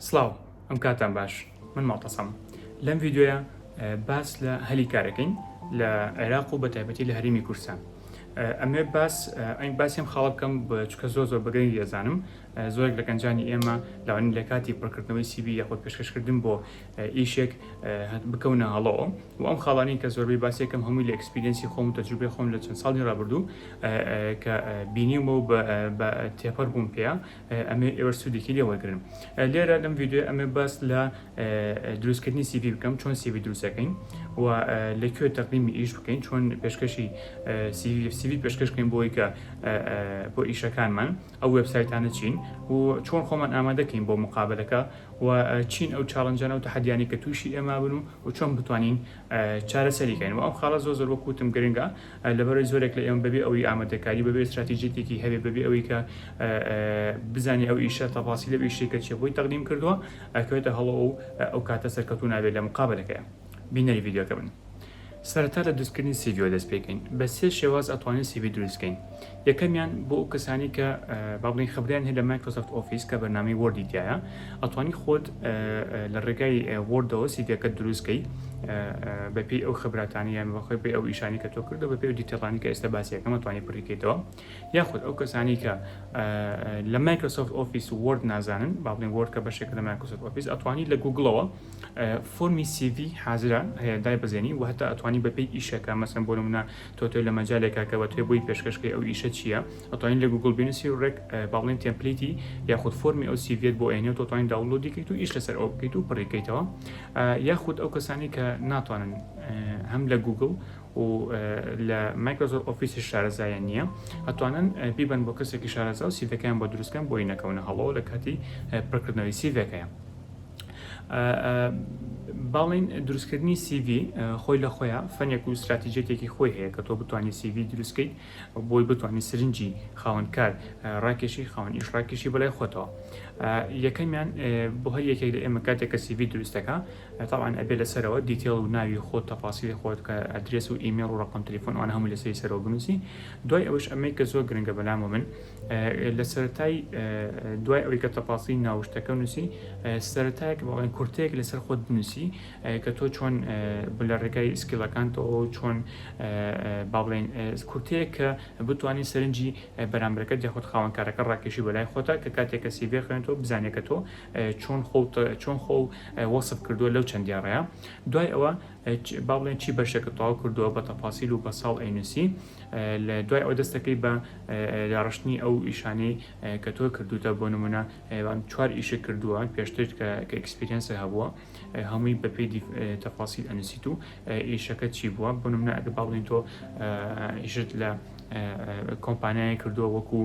سڵاو ئەم کاتان باش من ماڵتەسەم لەم ڤیددیوە باس لە هەلی کارەکەین لە عێراق و بە تایبەتی لە هەرمی کورسان ئەمێ باس ئەین باسیم خاڵ بکەم بە چکە زۆر زۆر بەگەنی دەزانم زۆرێک لە گەنجانی ئێمە لاوانی لە کاتی پڕکردنەوەی سیبی یاخود پێشکەشکردن بۆ ئیشێک بکەونە هەڵۆ و ئەم خاڵانی کە زۆربەی باسێکم هەمووی لە ئەکسپیرینسی خۆم تەجروبێ خۆم لە چەند ساڵی ڕابردوو کە بینیمە و بە تێپەر بووم پێ ئەمێ ئێوە سوودێکی لێ وەرگن لێرە لەم یددیو ئەمێ باس لە دروستکردنی سیبی بکەم چۆن سیبی دروستەکەین و لە کوێ تەقدیمی ئیش بکەین چۆن پێشکەشی سیوی پێشکەشکەین بۆی کە بۆ ئیشەکانمان ئەو وێبسایتانە چین و چۆن خۆمان ئامادە کەین بۆ مقابەلەکە و چین ئەو چاڵنجانە و تەحەدیانی کە تووشی ئێمە بن و و چۆن بتوانین چارەسەری کەین و ئەم خاڵە زۆر زۆر وەک وتم گرنگە لەبەرەوەی زۆرێک لە ئێمە بەبێ ئەوەی ئامادەکاری بەبێ استراتیژیەتێکی هەبێ بەبێ ئەوەی کە بزانێ ئەو ئیشە تەفاسیلی ئەو ئیشەی کە چێ بۆی تەقدیم کردووە ئەکەوێتە هەڵۆ و ئەو کاتە سەرکەوتوو نابێت لە مقابەلەکەیە. بینەری ڤیدیۆکە بن سەرەتا لە دروستکردنی سیڤیۆ دەست پێکەین بە سێ شێواز ئەتوانین سیوی دروستکەین یەکەمیان بۆ ئەو کەسانی کە بابڵین خبریان هەیە لە مایکرۆسفت ئۆفیس کە بەنامی وەردی تایە ئەتوانی خۆت لە ڕێگای وردەوە سیڤەکە دروستکەی بەپی ئەو خبراتانی یان بەخۆی پێ ئەو ئیشانی کە تۆ کردو بەپی و دیتەڵانی کە ئێستا باسیەکەمە توانی پڕیکەیتەوە یاخود ئەو کەسانی کە لە مایکرۆسفت ئۆفیس ورد نازانن بابڵین ورد کە بەشێک لە مایکرۆسفت ئۆفیس ئەتوانی لە گوگڵەوە فۆرمی سی ڤی حازرە هەیە دایبەزێنی و هەتا ئەتوانی بەپێی ئیشەکە مەسەن بۆ نمونە تۆ تۆ لە مەجالێکا کە بە توێ بۆی پێشکەشکەی ئەو ئیشە چییە ئەتوانین لە گوگل بینوسی و ڕێک باڵێن تێمپلیتی یاخود فۆرمی ئەو سیڤێت بۆ ئەێنێ و تۆتوانین داوڵۆدی کەیت و ئیش لەسەر ئەو بکەیت و پڕیکەیتەوە یاخود ئەو کەسانی کە ناتوانن هەم لە گوگل و لە مایکرۆزۆر ئۆفیسی شارەزایە نییە ئەتوانن بیبن بۆ کەسێکی شارەزا و سیڤەکەیان بۆ دروستکەن بۆی نەکەونە هەڵەوە لە کاتی پڕکردنەوەی سیڤەکەیان باڵین دروستکردنی سیڤ خۆی لە خۆیان فەنێک و استراتیجێتێکی خۆی هەیە کە تۆ بتانی سیڤ دروستکەیت بۆی بتانی سرنجی خاونکار ڕاکێشی خاون ئیش ڕاکێشی بەلای خۆتەوە یەکەمیان بۆ هەر یەکێک لە ئێمە کاتێکە سیڤ دروستەکە تاوان ئەبێ لەسەرەوە دیتێڵ و ناوی خۆ تەفاسی خۆت کە ئەدرێس و ئیمێڵ و ڕقم تلیفۆنوان هەموو لەسەری سەرۆ بنووسی دوای ئەوش ئەمەی کە زۆر گرنگە بەلام و من لە سەرەتای دوای ئەوی کە تەپاسی ناوشتەکە نووسی سەرەتایەک بەڵێن کورتەیەک لەسەر خۆت بنووسی کە تۆ چۆن لە ڕێگای سکیلەکانتەوە چۆن باڵێن کورتەیە کە بتانی سەرنجی بەرامبەرەکە دەخۆت خاوەنکارەکە ڕاکێشی بەلای خۆتا کە کاتێکە سیبێ خوێنەوە بزانێکە تۆ چۆن خۆت چۆن خۆ وەسف کردووە لەو چەند دیاڕەیە دوای ئەوە با بڵێن چی بەشێکە تەواو کردووە بە تەپاسیل و بە ساڵ ئەینوسی لە دوای ئەوە دەست دەکەیت بە داڕشتنی ئەو ئیشانەی کە تۆ کردوتە بۆ نمونە چوار ئیشە کردووە پێشتر کە ئەکسپریەنسە هەبووە هەمووی بەپی تەفاسیل ئەنووسیت و ئیشەکە چی بووە بۆ نمونە ئەگە باڵین تۆ ئیشت لە کۆمپانیای کردووە وەکو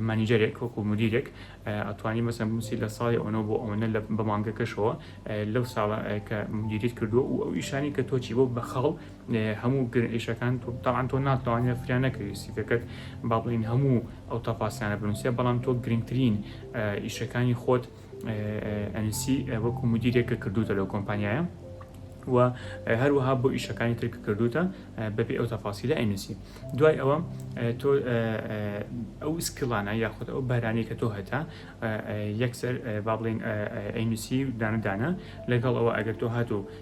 مانیجەرێک وەکو مدیرێک ئەتوانی مەسەن بنووسی لە ساڵی ئەوەنە بۆ ئەوەنە لە بەمانگەکەشەوە لەو ساڵە کە مدیریت کردووە و ئەو ئیشانی کە تۆچی بۆ بە خاڵ هەموو گرنگ ئیشەکان تۆ تاعەن تۆ ناتوانێ فریا نەکەوی سیڤەکەت با بڵین هەموو ئەو تەفاسیانە بنووسێ بەڵام تۆ گرنگترین ئیشەکانی خۆت ئەنسی وەکو مدیرێک کە کردوتە لەو کۆمپانیایە و هەروەها بۆ ئیشەکانی ترک کردوتە بەبێ ئەو تەفاسی لە ئەنسی دوای ئەوە تۆ ئەو سکلانە یاخود ئەو بارانی کە تۆ هەتا یەکسەر با بڵین ئەینسی دانەدانە لەگەڵ ئەوە ئەگەر تۆ هاتو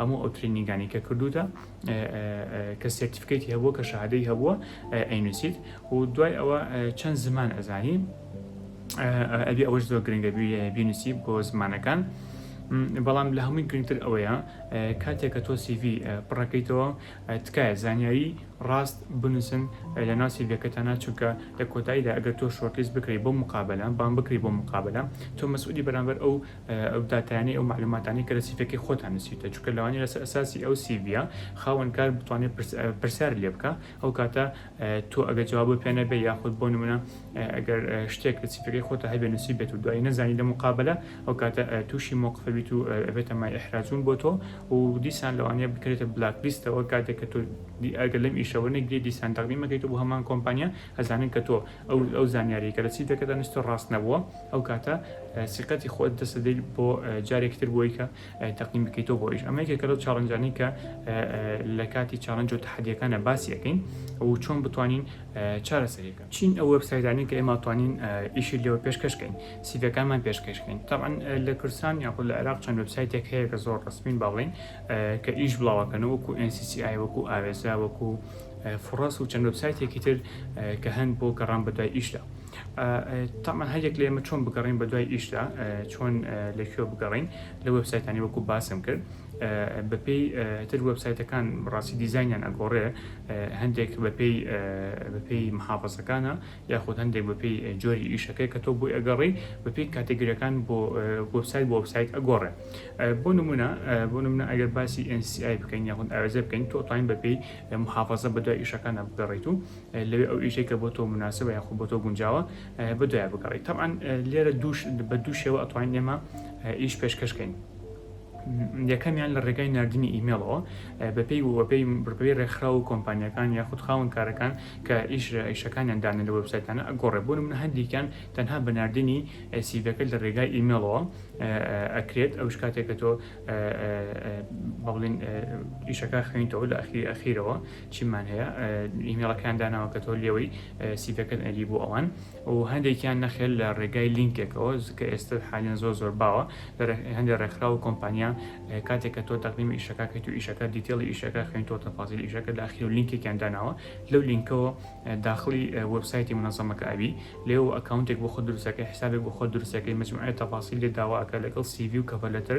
هەموو ئەو ترینینگانەی کە کردووتە کە سێرتیفکەیتی هەبووە کە شادەی هەبووە ئەینوسیت و دوای ئەوە چەند زمان ئەزانی ئەبی ئەوەش زۆر گرنگە بینوسی بۆ زمانەکان. بەڵام لە هەمووی گرنگتر ئەوەیە کاتێک کە تۆ سیV پڕەکەیتەوە تکایە زانیاری ڕاست بنووسن لە ناو سیڤەکەتانە چونکە لە کۆتاییدا ئەگەر تۆ شۆرتلیست بکری بۆ مقابلە بان بکری بۆ مقابلە تۆ مەسعودی بەرامبەر ئەو ئەو داتایانەی ئەو معلوماتانەی کە لە سیڤەکەی خۆتان نووسیوتە چونکە لەوانەیە لەسەر ئەساسی ئەو سیڤیە خاوەنکار بتوانێت پرسیار لێ بکە ئەو کاتە تۆ ئەگە جواب بۆ پێ نەبێ یاخود بۆ نمونە ئەگەر شتێک لە سیفەکەی خۆتە هەبێ نووسی بێت و دوایی نەزانی لە مقابلە ئەو کاتە تووشی مۆقفەبیت و ئەبێتە مای ئەحراجون بۆ تۆ و دیسان لەوانەیە بکرێتە بلاک لیستەوە کاتێک کە تۆ ئەگە لەم ئیشەوە نەگری دیسان دەقدیمەکەیت بۆ هەمان کۆمپانیا ئەزانن کە تۆ ئەو ئەو زانیاری کە لە سیفەکەدا نووسیتە ڕاست نەبووە ئەو کاتە سیقەتی خۆت دەست دەدەیت بۆ جارێکی تر بۆی کە تەقدیم بکەیتەوە بۆ ئیش ئەمە یەکێکە لەو چاڵنجانەی کە لە کاتی چاڵنج و تەحەدیەکانە باسی یەکەین ئەو چۆن بتوانین چارەسەریەکە چین ئەو وبسایدانی کە ئێمە توانین ئیشی لێوە پێشکەشکەین سیڤەکانمان پێشکەشکەین تاعاان لە کوردستان یاخود لە عێراق چەند وبسایتێک هەیە کە زۆر ڕسمین با بڵین کە ئیش بڵاوەکەن وەکو NCCI وەکو ئاوێزە وەکو فڕەس و چەند وبسایتێکی تر کە هەن بۆ گەڕان بەدوای ئیشدا. تەمان هەر یەک لە ئێمە چۆن بگەڕین بە دوای ئیشدا چۆن لە کوێ بگەڕین لە وبسایتانی وەکو باسم کرد بەپی تر وبسایتەکان ڕاستی دیزانیان ئەگۆڕێ هەندێک بەپی بەپی محافظەکانە یاخود هەندێک بەپی جۆری ئیشەکەی کە تۆ بۆی ئەگەڕی بەپی کاتەگرەکان بۆ وبسایت بۆ وبسایت ئەگۆڕێ بۆ نمونە بۆ نمونە ئەگەر باسی NCI بکەین یاخود ئاوێزە بکەین تۆ تاین بەپی محافظە بەدوای ئیشەکانە بگەڕیت و لەوێ ئەو ئیشەی کە بۆ تۆ موناسبە یاخود بۆ تۆ گونجاوە بە دوای بگەڕی تەعاان لێرە دووش بە دوو شێوە ئەتوانین ئێمە ئیش پێشکەشکەین یەکەمیان لە ڕێگای نردنی ئیمێڵەوە بەپی وەپی بڕپی ڕێکخرا و کۆمپانیەکان یاخود خاون کارەکان کە ئیش ئیشەکانیان دانە لە وەبسایتانە ئەگۆڕێ بوون من هەندێکیان تەنها بە نردنی سیڤەکە لە ڕێگای ئیمێڵەوە ئەکرێت ئەو شکاتێکە تۆ بڵین ئیشەکە خوێنیتەوە لە ئەخی ئەخیرەوە چیمان هەیە ئیمێڵەکەیان داناوە کە تۆ لێوەی سیڤەکەت ئەری بۆ ئەوان و هەندێکیان نەخێل لە ڕێگای لینکێکەوە زکە ئێستا حالیان زۆر زۆر باوە هەندێک ڕێکخرا و کۆمپانیا کاتێک کە تۆ تەقلیمی ئیشەکەکەیت و ئیشەکە دیتێڵی ئیشەکە خوێن تۆ تەفازیل ئیشەکە داخی و لینکێکیان داناوە لەو لینکەوە داخلی وبسایتی منەزەمەکە ئەوی لێو ئەکاونتێک بۆ خۆ دروستەکەی حسابێک بۆ خۆ دروستەکەی مجموعە تەفاسی لێ داواکە لەگەڵ سیڤی و کەڤەلەتر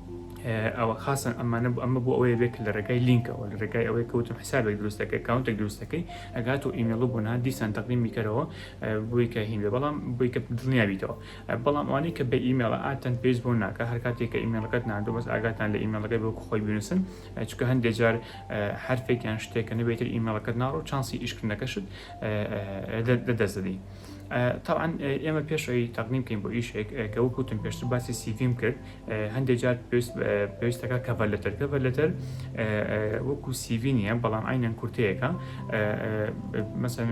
ئەوە خاصە ئەمانە بۆ ئەمە بۆ ئەوەیە بێت کە لە ڕێگای لینکەوە لە ڕێگای ئەوەیە کە وتم حسابێک دروست دەکەی ئەکاونتێک دروست دەکەی ئەگات و ئیمێڵ و بۆنات دیسان تەقدیم بیکەرەوە بۆی کە هین بێ بەڵام بۆی کە دڵنیا بیتەوە بەڵام ئەوانەی کە بە ئیمێڵە ئاتەن پێویست بۆ ناکە هەر کاتێک کە ئیمێڵەکەت ناردوو بەس ئاگاتان لە ئیمێڵەکەی بۆ خۆی بنووسن چونکە هەندێک جار حرفێکیان شتێکە نەبێتتر ئیمێڵەکەت ناڕۆ چانسی ئیشکردنەکەشت لە دەست دەدەی تەبعەن ئێمە پێش ئەوی تەقدیم بکەین بۆ ئیشێک کە وەک وتم پێشتر باسی سیڤیم کرد هەندێک جار پێویست پێویستەکە کەڤەر لەتەر کەڤەر لەتەر وەکو سیڤی نییە بەڵام ئاینەن کورتەیەەکە مەسەن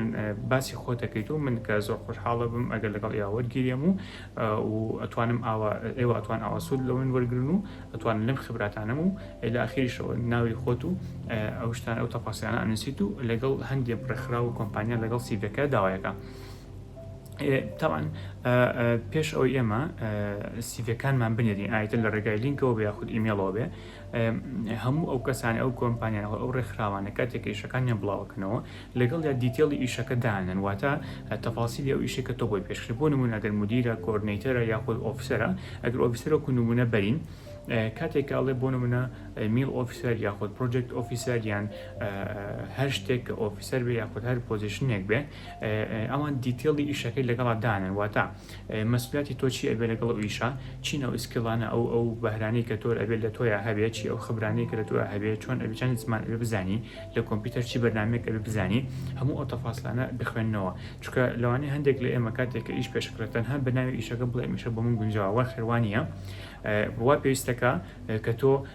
باسی خۆتەکەیت و من کە زۆر خۆشحاڵە بم ئەگەر لەگەڵ یا وەرگیرێم و و ئەتوانم ئاوا ئێوە ئەتوان ئاواسود لەون وەرگن و دەتوانن لەم خبراتانەم و لە ئاخیریشەوە ناوی خۆت و ئەو شتانە ئەو تەفاسیلانە ئەنووسیت و لەگەڵ هەندێک ڕێکخراو و کۆمپانیا لەگەڵ سیڤەکە داوایەکە تاوان پێش ئەوەی ئێمە سیڤەکانمان بنێرین ئایتە لە ڕێگای لینکەوە بە یاخود ئیمێڵەوە بێ هەموو ئەو کەسانی ئەو کۆمپانیانەوە ئەو ڕێکخراوانە کاتێک ئێشەکانیان بڵاوکەنەوە لەگەڵیا دیتێڵی ئیشەکە دانەن واتە تەفاسیلی ئەو ئیشەی کە تۆ بۆی پێش کرێت بۆ نموونە ئەگەر مودیرە کۆردنەیتەرە یاخود ئۆفیسەرە ئەگەر ئۆفیسەر وەکو نموونە بەرین کاتێک ئەڵێ بۆ نمونە میل ئۆفیسەر یاخود پرۆجێکت ئۆفیسەر یان هەر شتێک کە ئۆفیسەر بێ یاخود هەر پۆزیشنێک بێ ئەوان دیتێڵی ئیشەکەی لەگەڵا دانن واتە مەسولیاتی تۆ چی ئەبێ لەگەڵ ئەو ئیشە چینە و ئیسکیڵانە ئەو ئەو بەهرانەی کە تۆر ئەبێت لە تۆیا هەبێت چی ئەو خبرانەی کە لە تۆیا هەبێت چۆن ئەبێ چەند زمان ئەبێ بزانی لە کۆمپیوتەر چی بەرنمێک ئەبێ بزانی هەموو ئەو تەفاسلانە بخوێنەوە چکە لەوانەیە هەندێک لە ئێمە کاتێک کە ئیش پێشکرێت تەنها بەناوی ئیشەکە بڵێ ئیشە بۆ من گونجاوە خێوانە بوا پێویستەکە کە تۆ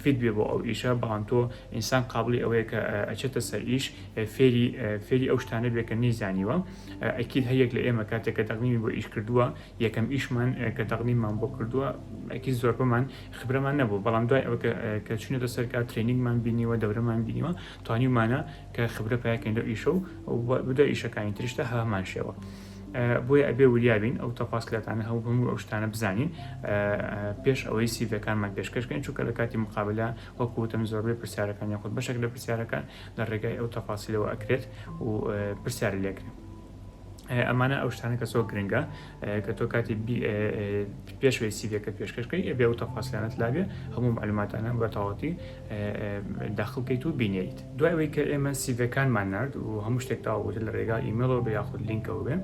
فیت بێ بۆ ئەو ئیشە بەڵام تۆ ئینسان قابڵی ئەوەیە کە ئەچێتە سەر ئیش فێری فێری ئەو شتانە بێ کە نەیزانیوە ئەکید هەیەک لە ئێمە کاتێک کە تەقنیمی بۆ ئیش کردووە یەکەم ئیشمان کە تەقنیمان بۆ کردووە ئەکی زۆر بەمان خبرەمان نەبوو بەڵام دوای ئەوە کە چونێتە سەر کات ترێنینگمان بینیوە دەورەمان بینیوە توانیمانە کە خبرە پاکەین لە ئیشە و بدە ئیشەکانی ترشتە هەمان شێوە بۆیە ئەبێ وریابین ئەو تەفاسلاتانە هەوو هەموو ئەو شتانە بزانین پێش ئەوەی سیڤەکانمان پێشکەشکەین چونکە لە کاتی مقابلە وەکوتم زۆربەی پرسیارەکان یاخود بەشێک لە پرسیارەکان لە ڕێگای ئەو تەفاسیلەوە ئەکرێت و پرسیار لێکرێت. ئەمانە ئەو شتانە کە زۆر گرنگە کە تۆ کاتی پێشوەی سیبیەکە پێشکەشکەی ئەبێ و تەفاسیانت لابێ هەموو معلوماتانە بە تەواتی داخڵکەیت و بینیت. دوای ئەوەی کە ئێمە سیڤەکانمان نارد و هەموو شتێک تەواو بوو لە ڕێگا ئیمێڵەوە بێ یاخود لینکەوە بێ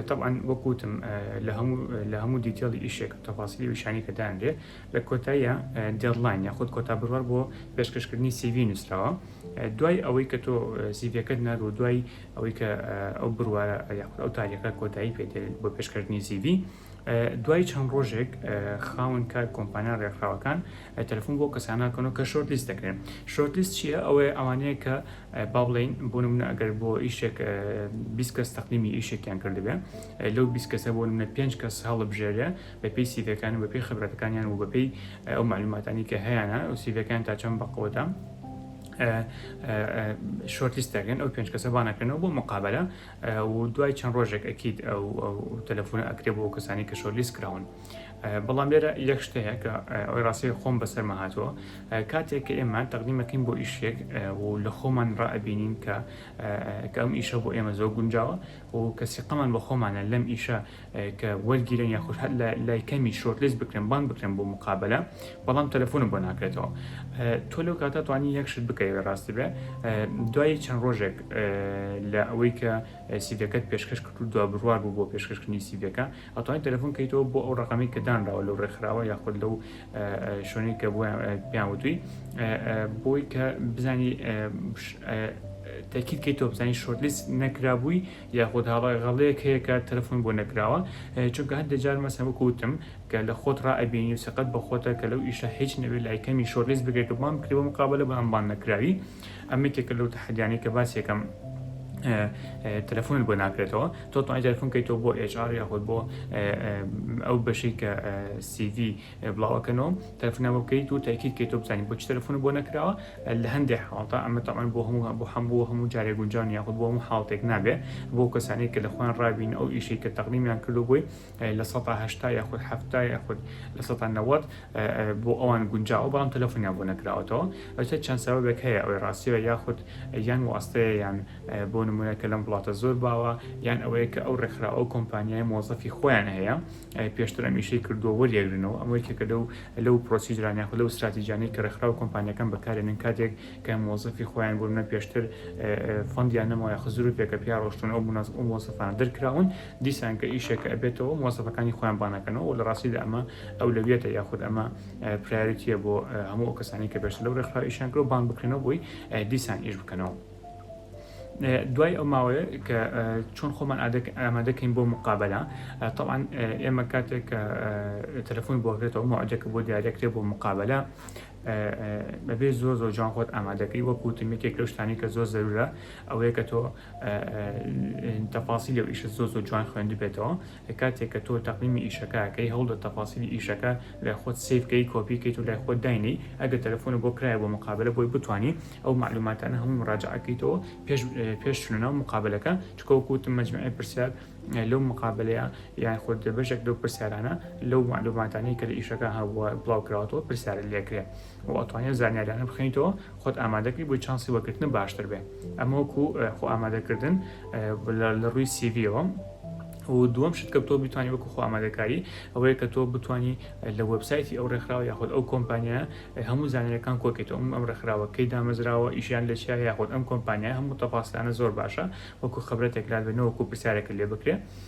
تەبعەن وەک وتم لە هەموو لە هەموو دیتێڵی ئیشێک و تەفاسیلی ویشانی کە دانرێ لە کۆتاییە دێدلاین یاخود کۆتا بڕوار بۆ پێشکەشکردنی سیڤی نووسراوە دوای ئەوەی کە تۆ سیڤەکەت نارد و دوای ئەوەی کە ئەو بڕوارە یاخود ئەو تاریخە کۆتایی پێ دێ بۆ پێشکەشکردنی سیڤی دوای چەند ڕۆژێک خاون کار کۆمپانیا ڕێکخراوەکان تەلفۆن بۆ کەسانناکەنەوە کە شۆرت لیست دەکرێن شۆرت لیست چییە ئەوەیە ئەوانەیە کە با بڵین بۆ منە ئەگەر بۆ ئیشێک بیسکەس تەقلیمی ئیشێکیان کردبێ لەو بیسکەسە بۆ منە پێنج کەس هەڵبژێرێ بە پێی سیڤەکان بە پێی خبرەتەکانیان و بەپی ئەو معلوماتانی کە هەیەە و سیڤەکان تا چەند بەقوتە شۆرتیس دەکەن ئەو پێنج کەسە بانەکەنەوە بۆ مقابلە و دوای چەند ڕۆژێک ئەکید ئەو تەلەفۆنە ئەکرێ بۆ کەسانی کە شۆرلیست کراون بەڵام لێرە یەک شتەیە کە ئەوی ڕاستی خۆم بەسەرمە هاتووە کاتێک کە ئێمە تەقدیمەکەین بۆ ئیشێک و لە خۆمان ڕائبینین کە کەم ئیشە بۆ ئێمە زۆر گونجاوە و کەسیقەمان بە خۆمانە لەم ئیشە کە وەرگیرێن یاخود هەر لە لای کەمی شۆرت لیست بکرێن بانگ بکرێن بۆ مقابلە بەڵام تەلەفۆنم بۆ ناکرێتەوە اه، تۆ لەو کاتە توانی یەک شت بکەوێ ڕاستی بێ اه، دوای چەند ڕۆژێک اه، لە ئەوەی کە سیڤەکەت پێشکەش کرد و دوا بڕوار بوو بۆ پێشکەشکردنی سیڤەکە ئەتوانی تەلەفۆن کەیتەوە بۆ ئەو ڕقەمەی کە دانراوە لەو ڕێکخراوە یاخود لەو اه، اه، شوێنەی کە بۆیان اه، پێیان وتوی اه، اه، بۆی کە بزانی اه، بش- اه، تەکیدکەیتەوە بزانین شۆرت لیست نەکرابووی یاخود هاوڕێ غەڵەیەک هەیە کە تەلەفۆن بۆ نەکراوە چونکە هەندێ جار مەسەن وەکو وتم کە لە خۆت ڕا ئەبینی و سیقەت بە خۆتە کە لەو ئیشە هیچ نەبێ لای کەمی شۆرلیست بکەی کە بان بکرێ بۆ مقابەلە بەڵام بان نەکراوی ئەمە یەکێکە لەو تەحەدیانەی کە باس یەکەم تەلەفۆنت بۆ ناکرێتەوە تۆ توانای تەلەفۆن کەیتەوە بۆ HR یاخود بۆ ئەو بەشەی کە CV بڵاوەکەنەوە تەلەفونە بۆ بکەیت و تاکیت کەیتۆ بزانین بۆچ تەلەفون بۆ نەکراوە لە هەندێک حاڵتا ئەمە تاوان بۆ هەموو بۆ هەمبوو هەموو جارێک گونجان یاخود بۆ هەموو حاڵتێک نابێ بۆ کەسانی کە لە خۆیان ڕابین ئەو ئیشی کە تەقلیمیان کردو بووی لە سەهشتا یاخود هەفتا یاخود لە سە نەوەت بۆ ئەوان گونجاوە بەڵام تەلەفونیان بۆ نەکراوەتەوە ئەوتە چەند سەبەبێک هەیە ئەوەی ڕاستیەوە یاخود یان واستەیە یان بۆ نمونە کە لەم وڵاتە زۆر باوە یان ئەوەیە کە ئەو ڕێکخرا ئەو کۆمپانیای مۆزەفی خۆیان هەیە پێشتر ئەم ئیشەی کردووە وەریەگرنەوە، ئەمە یەکێکە لەو لەو پرۆسیجرانە یاخود لەو ستراتیجانەی کە ڕێکخراو و کۆمپانیاکان بەکارێنن کاتێک کە مۆزەفی خۆیان بۆ نمونە پێشتر فەندیان نەماوە یاخود زروپێکە پیا ڕۆشتون ئەو مناس ئەو مۆزەفانە دەرکراون دیسان کە ئیشێکە ئەبێتەوە مۆزەفەکانی خۆیان بانەکەنەوە و لە ڕاستیدا ئەمە ئەولەویەتە یاخود ئەمە پرایۆریتیە بۆ هەموو ئەو کەسانی کە پێشتر لەو ڕێکخراوە ئیشیان کردووە بانگ بکرێنەوە بۆی دیسان ئیش بکەنەوە. دوای ئەو ماوەیە کە چۆن خۆمان ئامادەکەین بۆ مقابلە طبعاان ئێمە کاتێک کە تەلفۆن بۆگرێتەوە ماجەکە بۆ دیارەکرێ بۆ مقابلە بەبێ زۆر زۆر جوان خۆت ئامادەکەی وەکوتم یەکێک لەو شتانی کە زۆر زەرورە ئەوەیە کە تۆ تەفاسی لەو ئیشە زۆر زۆر جوان خوێندبێتەوە لە کاتێک کە تۆ تەقدیمی ئیشەکە ئەکەی هەوڵدە تەفاسیلی ئیشەکە لای خۆت سەیڤ کەی کۆپی کەیت و لای خۆت داینێی ئەگەر تەلەفۆنت بۆ کرایە بۆ مقابەلە بۆی بتوانی ئەو مەعلوماتانە هەمووی مراجەعە کەیتەوە پێش پێش چونە ناو مقابەلەکە چونکە وەکو وتم مەجموعی پرسیار لەو مقابەلەیە یان خۆت بەشێک لەو پرسیارانە لەو مەعلوماتانەی کە لە ئیشەکە هەبووە بڵاو کراوەتەوە پرسیارت لێکرێ و ئەتوانی ئەو زانیاریانە بخوێنیتەوە خۆت ئامادەکەی بۆی چانسی وەگرتن باشتر بێ ئەمە وەکو خۆ ئامادەکردن لە ڕووی سیڤەوە و دووەم شت کە تۆ بتانی وەکو خۆ ئامادەکاری ئەوەیە کە تۆ بتانی لە وەبسایتی ئەو ڕێکخراوە یاخود ئەو کۆمپانیا هەموو زانانەکان کۆکێتەوە ئەم ڕێکخراوە کەی دامەزراوە ئیشیان لە چیا یاخود ئەم کۆمپانیا هەموو تەپاسلانە زۆر باشە وەکو خبرەتێکرات بێنەوەکو پرسیارەکە لێ بکرێ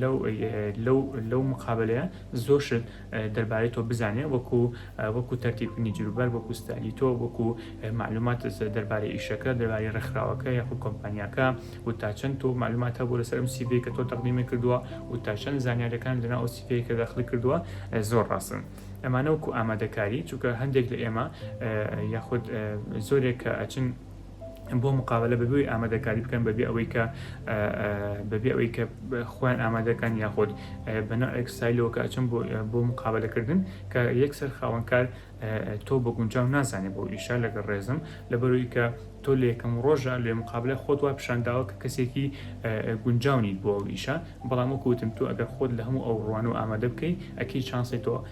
لەو لەو لەو مقابەلەیە زۆر شت دەربارەی تۆ بزانێ وەکو وەکو تەرتیبنی جروبەر وەکو ستایلی تۆ وەکو معلومات دەربارەی ئیشەکە دەربارەی ڕێکخراوەکە یاخود کۆمپانیاکە و تا چەند تۆ معلومات هەبوو لەسەر ئەم سیڤی کە تۆ تەقدیمی کردووە و تا چەند زانیارەکان لەنا ئەو سیڤی کە داخلی کردووە زۆر ڕاستن ئەمانە وەکو ئامادەکاری چونکە هەندێک لە ئێمە یاخود زۆرێک کە ئەچن بۆ مقابلە بەبێ ئەوەی ئامادەکاری بکەن بەبێ ئەوەی کە بەبێ ئەوەی کە خۆیان ئامادەکان یاخۆت بەنا ئەکسایلەوە کە ئەچم بۆ مقابلەکردن کە یەکسەر خاوەنکار تۆ بە گونجاو نازانێ بۆ ئیشا لەگەڵ ڕێزم لەبەروی کە تۆ لە یەکەم ڕۆژە لێ مقابلە خۆت وا پیشانداوە کە کەسێکی گونجاونیت بۆ ئیشە بەڵام وەکوتم تۆ ئەگەر خۆت لە هەموو ئەو ڕوان و ئامادە بکەی ئەکی چانسی تۆ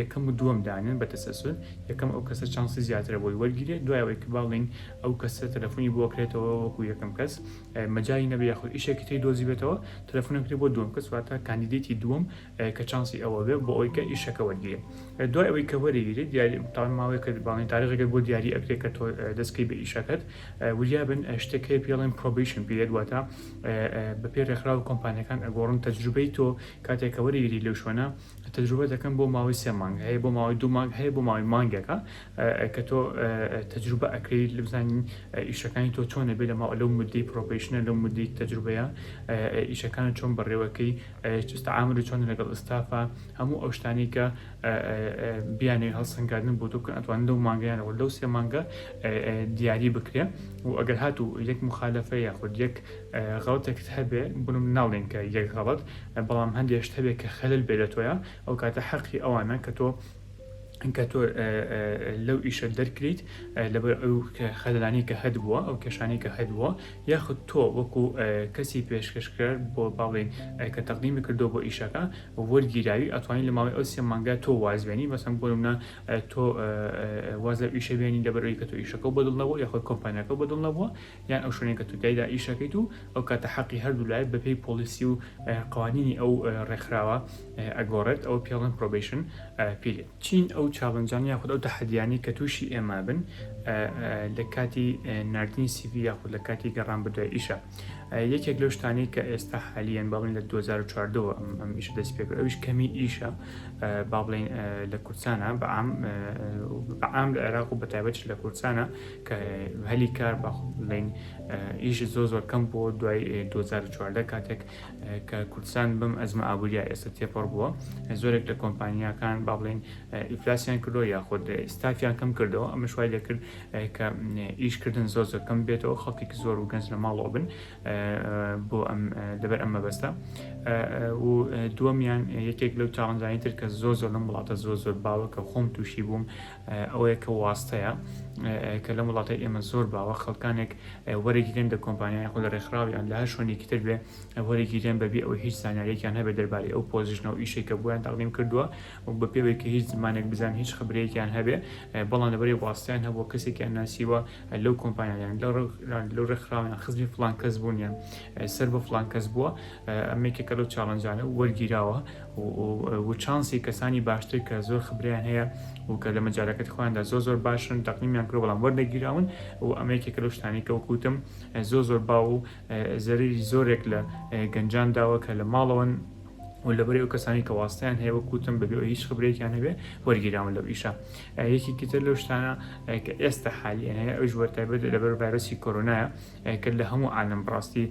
یەکەم و دووەم دانێن بە تەسەلسول یەکەم ئەو کەسە چانسی زیاترە بۆی وەرگیرێت دوای ئەوەی کە باڵین ئەو کەسە تەلەفونی بۆ کرێتەوە وەکو یەکەم کەس مەجای نەبێ یاخود ئیشێکی تری دۆزیبێتەوە تەلەفونە کرێ بۆ دووەم کەس واتە کاندیدێتی دووەم کە چانسی ئەوە بێ بۆ ئەوەی کە ئیشەکە وەرگیرێت دوای ئەوەی کە وەرگیرێت دیاری تاوان ماوەیە کە باڵین تاریخەکەت بۆ دیاری ئەکرێت کە تۆ دەستکەی بە ئیشەکەت وریابن شتێک هەیە پێڵێن پرۆبیشن پێت واتە بە پێ ڕێکخراوە کۆمپانیەکان ئەگۆڕن تەجروبەی تۆ کاتێکەوەری گری لەو شوێنە تەجروبە دەکەم بۆ ماوەی سێ مانگ هەیە بۆ ماوەی دوو مانگ هەیە بۆ ماوەی مانگێکە کە تۆ تەجروبە ئەکەیت لە بزانین ئیشەکانی تۆ چۆنە بێ لە ماوە لەو مدەی پرۆپیشنە لەو مدەی تەجروبەیە ئیشەکان چۆن بەڕێوەکەی ئامر و چۆن لەگەڵ ئستافە هەموو ئەو شتانی کە بیانێ هەڵسەنگاردن بۆ تۆ کە ئەتوان لەو مانگیانەوە لەو سێ مانگە دیاری بکرێ و ئەگەر هاتوو یەک مخالفە یاخود یەک غڵتێکت هەبێ بنم ناڵێن کە یەک غڵت بەڵام هەندێ شت هەبێ کە خەلەل بێ لە تۆیا ئەو کاتە حەقی ئەوانە کە تۆ کە تۆ لەو ئیشە دەرکریت لەبەر ئەو خەلانی کە هەد بووە ئەو کێشانی کە هەد بووە یاخود تۆ وەکو کەسی پێشکەشکرد بۆ باڵێن کە تەقدیمی کردو بۆ ئیشەکە وەرگیراوی ئەتوانی لە ماوەی ئەو سێ مانگە تۆ وازبێنی بەسم بۆمە تۆ واز لە ئیشە بێنی لەبەرەوەی کە تۆ ئیشەکە بەدڵ نەبوو یاخود کۆمپانیەکە بەدڵ نەبووە یان ئەو شوێنەی کە تۆ تیایدا ئیش ئەکەیت و ئەو کاتە حەقی هەردوو لایەک بەپێی پۆلیسی و قوانینی ئەو ڕێکخراوە ئەگۆڕێت ئەو پێڵێن پرۆبیشن پیرێت چین ئەو چاڵنجان یاخود ئەو تەحەدیانی کە تووشی ئێمە بن لە کاتی نردنی سیڤی یاخود لە کاتی گەڕان بدوای ئیشە یەکێک لەو شتانی کە ئێستا حالیان باڵین لە 2014ەوە ئەم ئیشە دەست پێ کرد ئەوش کەمی ئیشە با بڵین لە کوردستانە بەعام بەعام لە عێراق و بەتایبەت لە کوردستانە کە هەلی کار با بڵێین ئیش زۆر زۆر کەم بووە دوای 2014 کاتێک کە کوردستان بەم ئەزمە ئابووریا ئێستا تێپەڕ بووە زۆرێک لە کۆمپانیاکان با بڵێین ئیفلاسیان کردو یاخود ستافیان کەم کردەوە ئەمە شوای دەکرد کە ئیشکردن زۆر زۆر کەم بێتەوە خەڵکێک زۆر و گەنج لە ماڵەوە بن بۆ ئەم لەبەر ئەمە بەستە و دووەمیان یەکێک لەو چاڵنجانی تر کە زۆر زۆر لەم وڵاتە زۆر زۆر باوە کە خۆم تووشی بووم ئەوەیە کە واستەیە کە لەم وڵاتەی ئێمە زۆر باوە خەڵکانێک وەرەگیرێن لە کۆمپانیای خۆ لە ڕێکخراویان لە هەر شوێنێکی تر بێ وەرەگیرێن بەبێ ئەو هیچ زانانیێکیان هەبێت دەربارەی ئەو پۆزیشنە و ئیشێک کە بۆیان تەقدیم کردووە و بە پێوەی کە هیچ زمانێک بزان هیچ خبرەیەکیان هەبێ بەڵام لەبەری واستیان هەبووە کەسێکیان ناسیوە لەو کۆمپانیان لەو ڕێکخراویان خزمی فلان کەس بوونیان سەر بە فلان کەس بووە ئەمێکێکە لەو چاڵنجانە وەرگیراوە و چانسی کەسانی باشتر کە زۆر خبرەیان هەیە و کە لە مەجالەکەتی خۆیاندا زۆر زۆر باشن تەقنیمیان کرد بەڵام وەرنەگیراون و ئەمە یەکێکە لەو شتانەی کە وەکو وتم زۆر زۆر باو و زەرەری زۆرێک لە گەنجان داوە کە لە ماڵەوەن و لەبەری ئەو کەسانی کە واستیان هەیە وەکو وتم بەبێ ئەوی هیچ خبرێکیان هەبێ وەرگیراون لەو ئیشە یەکێکی تر لەو شتانە کە ئێستا حالیان هەیە ئەویش وەرتابەت لەبەر ڤایرۆسی کۆرۆنایە کە لە هەموو عالەم بڕاستی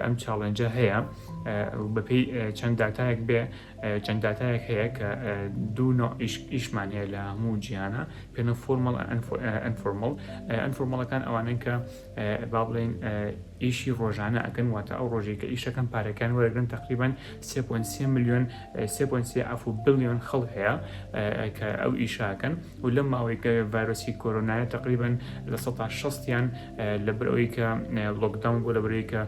ئەم چاڵێنجە هەیە بەپی چەند داتایەک بێ چەند داتایەک هەیە کە دوو ئیشمان هەیە لە هەموو جیانە پێنە فۆرمەڵ ئەنفۆرمەڵ ئەنفۆرمەڵەکان ئەوانن کە با بڵێن ئیشی ڕۆژانە ئەکەن واتە ئەو ڕۆژێک کە ئیشەکەم پارەکان وەرگن تقریبان 3.3 میلیۆن 3.3 ئەف و بلیۆن خەڵ هەیە کە ئەو ئیشاکەن و لەم ماوەی کە ڤایرۆسی کۆرۆنایە تقریبان لە 16 یان لەبەر ئەوەی کە لۆکداون بوو لەبەر ئەوەی کە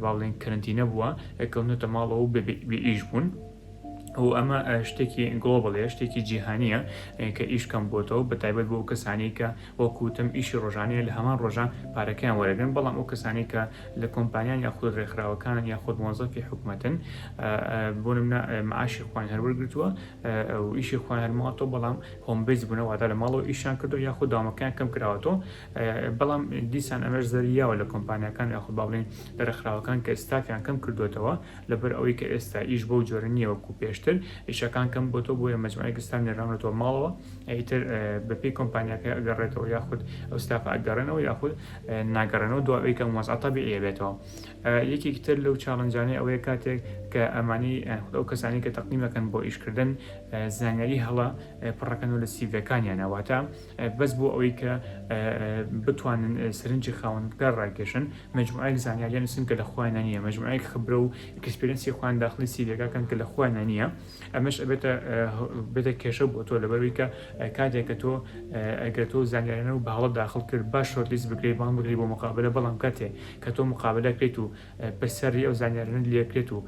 با بڵێن کەرەنتینە بووە کەونەتە ماڵەوە و بێ ئیش بوون و ئەمە شتێکی گڵۆبڵێ شتێکی جیهانیە کە ئیش کەم بۆتەوە بە تایبەت بۆ کەسانی کە وەکوتم ئیشی ڕۆژانەیە لە هەمان ڕۆژە پارەکەیان وەرەگرن بەڵام ئەو کەسانی کە لە کۆمپانیان یاخود ڕێکخراوەکانن یاخود مۆزەفی حکوومەتن بۆ منە معاشی خوان هەروەرگتووە و ئیشی خوان هەرماوەەوە بەڵام هۆمبیز بوونە واتا لە ماڵەوە ئیشان کردو یاخود دامەکان کەم کراوەەوە بەڵام دیسان ئەمەش زەرری یاوە لە کۆمپانیاکان یاخود با بڵێین لە رێکخراوەکان کە ستافیان کەم کردووەتەوە لەبەر ئەوەی کە ئێستا ئیش بەو جۆرە نییە وەکو پێشتر، ئیشەکان کەم بۆتەوە بۆیە مەجموعەیەک ستاف نێراونەتەوە ماڵەوە ئیتر بەپێی کۆمپانیاکە ئەگەڕێتەوە یاخود ئەو ستافە ئەگەڕێنەوە یاخود ناگەڕێنەوە دوای ئەوەی کە ئەم وەزعە تەبیعیە بێتەوە. یەکێکی تر لەو چاڵنجانەی ئەوەیە کاتێک کە ئەمانەی یاخود ئەو کەسانەی کە تەقدیم ئەکەن بۆ ئیشکردن زانیاری هەڵە پڕ ئەکەن و لە سیڤیەکانیانا واتە بەس بۆ ئەوەی کە بتوانن سەرنجی خاوەندکار ڕاکێشن مجموعەیەک زانیاریان نووسن کە لە خۆیانە نییە مجموعەیەک خبرە و ئکسپرینسی خۆیان داخلی سیرەکەکەن کە لە خۆیانە نییە ئەمەش ئەبێتە بێتە کێشە بۆ تۆ لەبەروی کە کاتێکە تۆ ئەگەر تۆ زانیارانە و باڵە داخل کرد باش شۆرتلیست بکرێت بان بگری بۆ مقابلە بەڵام کاتێ کە تۆ مقابلە کرێت و پرسیاری ئەو زانیارانەت لێ بکرێت و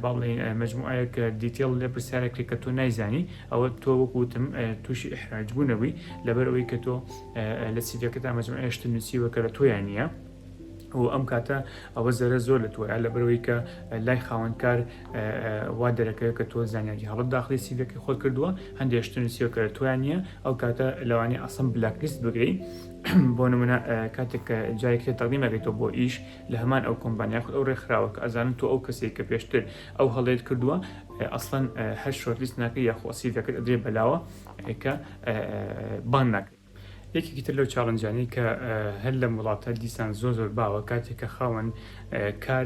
باڵێن مجموعەیەک دیتێڵ لە پرسیارێک کرێت کە تۆ نایزانی ئەوە تۆ وەک وتم تووشی ئیحراج بوو نەبووی لەبەر ئەوەی کە تۆ لە سیڤەکەدا مجموعەیە شتە نووسیوە کە لە تۆیان نییە و ئەم کاتە ئەوە زەرە زۆر لە تۆە لە بەرەوەی کە لای خاوەنکار وا دەرەکەوێت کە تۆ زانیاری هەڵت داخلی سیڤەکەی خۆت کردووە هەندێشتە نووسیوە کە لە تۆیان نییە ئەو کاتە لەوانی ئەسم بلاکلیست بگری بۆ نمونە کاتێک کە جایکرێت تەقدیمەکەیتەوە بۆ ئیش لە هەمان ئەو کۆمبانیا یاخود ئەو ڕێکخراوە کە ئەزانن تۆ ئەو کەسێک کە پێشتر ئەو هەڵەیەت کردووە ئەسڵەن هەر شۆرتلیست ناکە یاخۆ سیڤەکەت ئەدرێ بەلاوە کە بان ناکە یەکێکی تر لەو چاڵنجانی کە هەر لەم وڵاتە دیسان زۆر زۆر باوە کاتێک کە خاوەن کار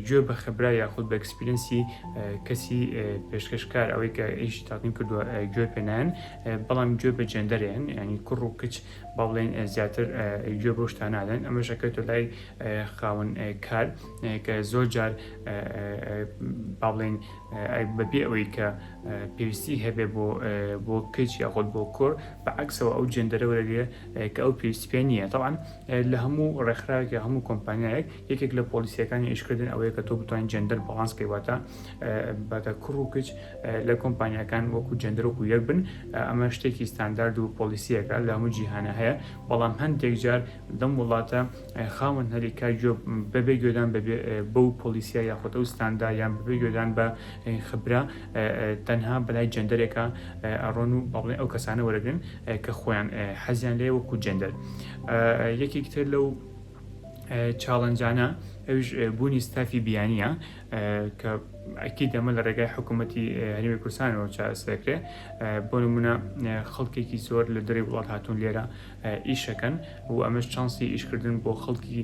گوێ بە خەبرا یاخود بە ئەکسپیرنسی کەسی پێشکەشکار ئەوەی کە ئیشی تاقیم کردووە گوێ پێنان بەڵام گوێ بە جێندەرێن ینی کوڕ و کچ با بڵێین زیاتر گوێ بەو شتانە نادەن ئەمەش ئەکەوێتە لای خاوەن کار کە زۆر جار با بڵێین بەبێ ئەوەی کە پێویستی هەبێ بۆ بۆ کچ یاخود بۆ کۆر بە عکسەوە ئەو جێندەرە وەرەگرێ کە ئەو پێویستی پێ نییە تاوان لە هەموو ڕێکخراوێک هەموو کۆمپانیایەک یەکێک لە پۆلیسیەکانی ئیشکردن ئەوەیە کە تۆ بتوانین جێندەر باڵانس کەی واتە باتە کوڕ و کچ لە کۆمپانیاکان وەکو جێندەر وەکو یەک بن ئەمە شتێکی ستاندارد و پۆلیسیەکە لە هەموو جیهانە هەیە بەڵام هەندێک جار دەم وڵاتە خاوەن هەلی کار بەبێ گوێدان بەو پۆلیسیا یاخۆتە و ستاندا یان بەبێ گوێدان بە خبرا تەنها بەلای جێندەرێکە ئەڕۆن و بەڵێ ئەو کەسانە وەرەگرن کە خۆیان حەزیان لێ وەکو جێندەر یەکێکتر لەو چاڵنجانە ئەویش بوونی ستافی بیانیە کە ئەکی دەمە لە ڕێگای حکوومەتی هەرمی کوردستانەوە چارەسەکرێ بۆ نمونە خەڵکێکی زۆر لە دەری وڵات هاتوون لێرە ئیشەکەن و ئەمەش چانسی ئیشکردن بۆ خەڵکی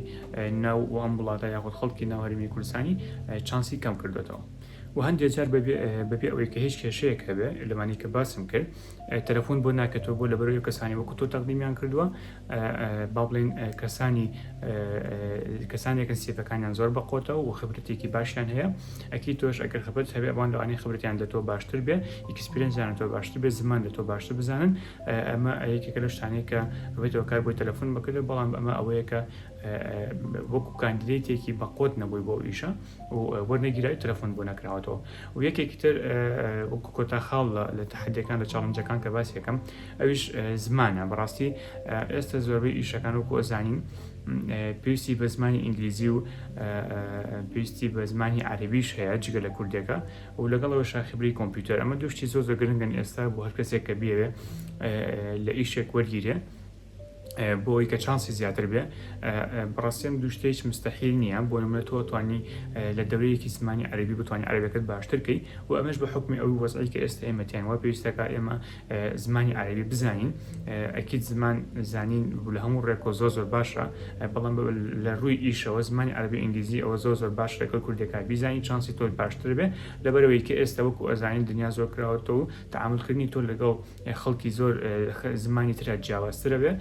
ناو و ئەم وڵاتە یاخود خەڵکی ناو هەرمی کوردستانی چانسی کەم کردوێتەوە و هەندێک جار بەبێ ئەوەی کە هیچ کێشەیەک هەبێ لەمانی کە باسم کرد تەلەفۆن بۆ ناکەتەوە بۆ لەبەر ئەو کەسانی وەکو تۆ تەقدیمیان کردووە با بڵێن کەسانی کەسانێکن سیفەکانیان زۆر بەقۆتەوە و خبرەتێکی باشیان هەیە ئەکی تۆش ئەگەر خبرت هەبێ ئەوان لەوانی خبرتیان لە تۆ باشتر بێ ئیکسپرنجیان تۆ باشتر بێ زمان لە تۆ باشتر بزانن ئەمە یەکێکە لە شتانەیە کە ئەوێتەوە کار بۆی تەلەفۆن بکردێت بەڵام ئەمە ئەوەیە کە وەکو کاندیدێتێکی بەقۆت نەبووی بۆ ئیشە و وەرنەگیرای تەلەفۆن بۆ نەکراوەتەوە و یەکێکی تر وەکو کۆتا خاڵ لە تەحەدیەکان لە چاڵنجەکان کە باسی یەکەم ئەویش زمانە بەڕاستی ئێستا زۆربەی ئیشەکان وەکو ئەزانین پێویستی بە زمانی ئینگلیزی و پێویستی بە زمانی عربیش هەیە جگە لە کوردەکە و لەگەڵەوە شاخبری کۆمپیوتەر ئەمە دوشتی زۆر زۆگرنگن ئێستا بۆ هەر کەسێک کە بێوێ لە ئیشێک وەرگیرێ بۆوەی کە چانسی زیاتر بێ بڕاستیم دوو شتێک مستحیل نییە بۆ نمە تۆ توانی لە دەورەیەکی زمانی عربی بتوانانی عربەکەت باشترکەی و ئەمەش بە حکمی ئەو وەزعی کە ئێستا ئێمەتیان وە پێویستەکە ئێمە زمانی عربی بزانین ئەکییت زمان زانین لە هەموو ڕێکۆ زۆ زۆر باشە بەڵام لە ڕووی ئیشەوە زمانی عربی ئینگلیزی ئەوە زۆ زۆر باش لەگەڵ کوردەکە بیزانانی چانسی تۆی باشتر بێ لەبەرەوەی کە ئێستا وەکو ئەزانین دنیا زۆر کراوەەوە و تعاملکردنی تۆ لەگەڵ خەڵکی زۆر زمانی ترا جیاوازترە بێ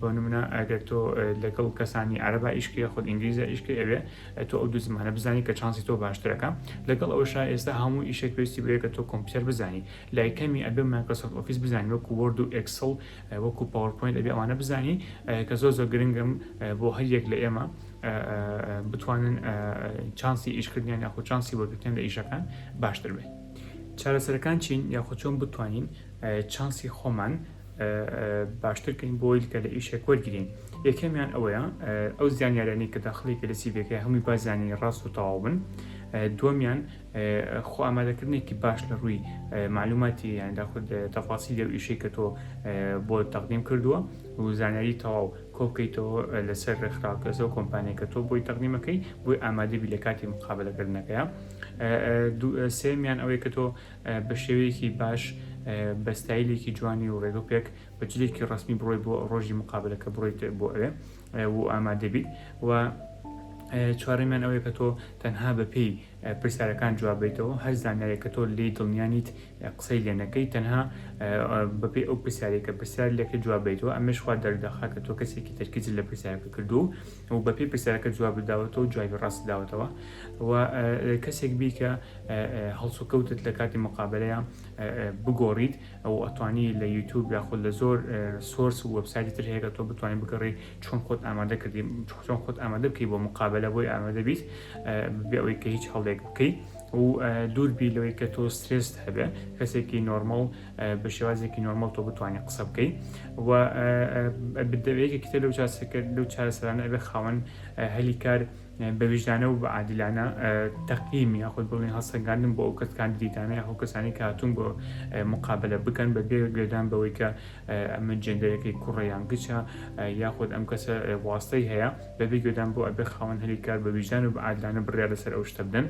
بۆ نمونە ئەگەر تۆ لەگەڵ کەسانی عربا ئیشکی خود ئینگلیزە ئیشکی ئەوێ تۆ ئەو دوو زمانە بزانی کە چانسی تۆ باشترەکە لەگەڵ ئەوشا ئێستا هەموو ئیشێک پێویستی بەیە کە تۆ کۆمپیوتەر بزانی لای کەمی ئەبێ مایکرۆسۆفت ئۆفیس بزانی وەکو وۆرد و ئێکسڵ وەکو پاوەرپۆینت ئەبێ ئەوانە بزانی کە زۆر زۆر گرنگم بۆ هەر یەک لە ئێمە بتوانن چانسی ئیشکردنیان یاخود چانسی وەرگتن لە ئیشەکان باشتر بێت چارەسەرەکان چین یاخود چۆن بتوانین چانسی خۆمان باشترکەین بۆی کە لە ئیشێک وەرگین یەکەمیان ئەوەیە ئەو زیانیارانی کە داخلێکی لە سیبەکە هەمووی بازیانی ڕاست و تەواو بن دووەمیان خۆ ئامادەکردنێکی باش لە ڕووی معلوماتی یان داخود تەفاسی لەو ئیشەی کە تۆ بۆ تەقدیم کردووە و زانیاری تەواو کۆکەیتەوە لەسەر ڕێکخراوکەسەوە کۆمپانیەکە تۆ بۆی تەقدیمەکەی بۆی ئامادەبی لە کاتی مقابلەکردنەکەیە سێیەمیان ئەوەی کە تۆ بە شێوەیەکی باش بە ستایلێکی جوانی و ڕێگە پێک بە جلێکی ڕسمی بڕۆی بۆ ڕۆژی مقابلەکە بڕۆیت بۆ ئەوێ و ئامادەبیت و چوارەمیان ئەوەیە کە تۆ تەنها بە پێی پرسیارەکان جوابیتەوە هەر زانایە کە تۆ لی دڵنیانیت قسەی لێنەکەی تەنها بەپی ئەو پرسیارێکە پرسیار لەکە جوابیتەوە ئەمەشخوا دەردەخا کە تۆ کەسێکی تەرکیز لە پرسیارەکە کردو و بە پێی پرسیارەکە جوابت داوەتەوە و جوابی ڕاستت داوەتەوە و کەسێک بی کە هەڵسوکەوتت لە کاتی مقابلەیە بگۆڕیت ئەو ئەتوانی لە یوتوب یاخود لە زۆر سۆرس و وەبسایتی تر هەیە کە تۆ بتوانین بگەڕی چۆن خۆت ئامادە کردی چۆن خۆت ئامادە بکەی بۆ مقابلە بۆی ئامادە بیت بێ ئەوەی کە هیچ هەڵێک بکەیت و دووربی لەوەی کە تۆ سترێست هەبێ کەسێکی نۆرمەڵ بە شێوازێکی نۆرمەڵ تۆ بتوانانی قسە بکەی و بدەوێکی کتە لەو چاسەکە لەو چارەسەرانە ئەبێ خاوەن هەلی کار بە ویژدانە و بە عادلانە تەقیم یاخود بڵێن هەڵسەنگاندن بۆ ئەو کەس کاندیدانە یاخۆ کەسانی کاتون بۆ مقابلە بکەن بە بێ گوێدان بەوەی کە ئەمە جێندەرەکەی کوڕیان گچە یاخود ئەم کەسە واستەی هەیە بەبێ گوێدان بۆ ئەبێ خاوەن هەلی کار بە ویژدان و بە عادلانە بڕیار لەسەر ئەو شتە بدەن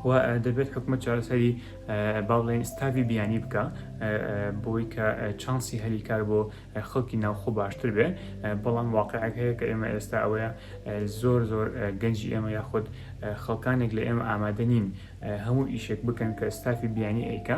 و دەبێت حکومەت چارەسەری با بڵێن ستاڤی بیانی بکە بۆی کە چانسی هەلی کار بۆ خەڵکی ناوخۆ باشتر بێ بەڵام واقعەک هەیە کە ئێمە ئێستا ئەوەیە زۆر زۆر گەنجی ئێمە یاخود خەڵکانێک لە ئێمە ئامادە نین هەموو ئیشێک بکەن کە ستافی بیانی ئەیکە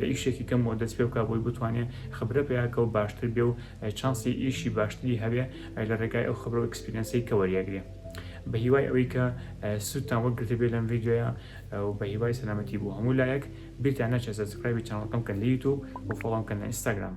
لە ئیشێکی کەم وە دەست پێ بکا بۆی بتوانێ خبرە پیا کەو باشتر بێ و چانسی ئیشی باشتری هەبێ لە ڕێگای ئەو خبرە و ئەکسپیرەنسەی کە وەریەگرێ بە هیوای ئەوەی کە سوودتان وەگرتە بێ لەم ڤیددیوە و بە هیوای سەلامەتی بۆ هەموو لایەک بیرتان نەچێت سەسکرایبی چانەڵەکەم کەن لە یوتوب و فۆڵۆم کەن لە ئینستاگرام